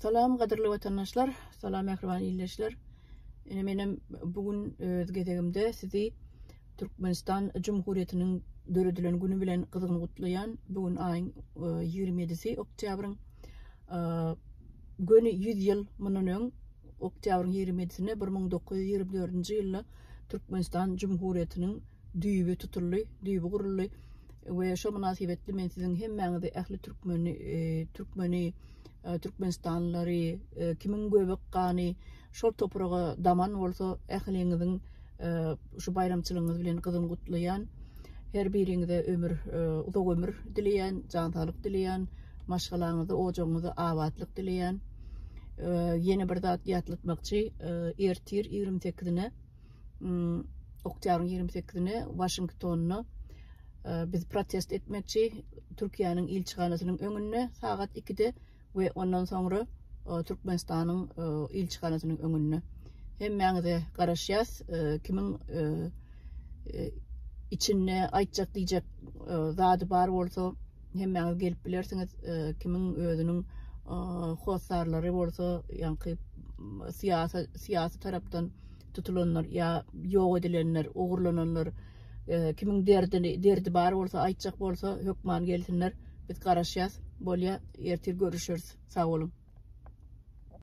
Salam gadyrly watandaşlar, salam mähriban ildeşler. Ine menem bu gün öz gezegimde sizi Türkmenistan Jumhuriyetiniň döredilen güni bilen gyzgyn gutlaýan. Bu gün aýyň 27-si e, oktýabryň e, göni 100 ýyl mundan öň oktýabryň 27-sinde 1924-nji ýylda Türkmenistan Jumhuriyetiniň düýbi tutuldy, düýbi guruldy we şo mynasybetli men siziň hemmäňizi ähli türkmeni, e, türkmeni, e, türkmenistanlylary, e, kimiň göbek gany şol topraga daman bolsa, ähliňiziň e, şu baýramçylygyňyz bilen gyzyn gutlaýan. Her biriňize ömür, e, uzak ömür dileýän, jan saglyk dileýän, maşgalaňyzy, ojagyňyzy abatlyk dileýän. E, ýene bir zat ýatlatmakçy, e, ertir 28-ne hmm, oktýabryň 28-ine Waşingtonda e, biz protest etmekçi Türkiýäniň ilçihanasynyň öňünde sagat 2-de we ondan soňra e, Türkmenistanyň e, ilçihanasynyň öňünde. Hemmäňize garaşýas, kimiň içinde aýtjak diýjek zady bar bolsa, Hemmäňiz gelip bilersiňiz, e, kimiň özüniň e, hossarlary bolsa, ýaňky syýasy syýasy tarapdan tutulanlar ýa ýok edilenler, ogurlananlar, e, kimiň derdini, derdi bar bolsa, aýtjak bolsa, hökman gelsinler. Biz garaşýas. Bolýa, ertir görüşeris. Sag boluň.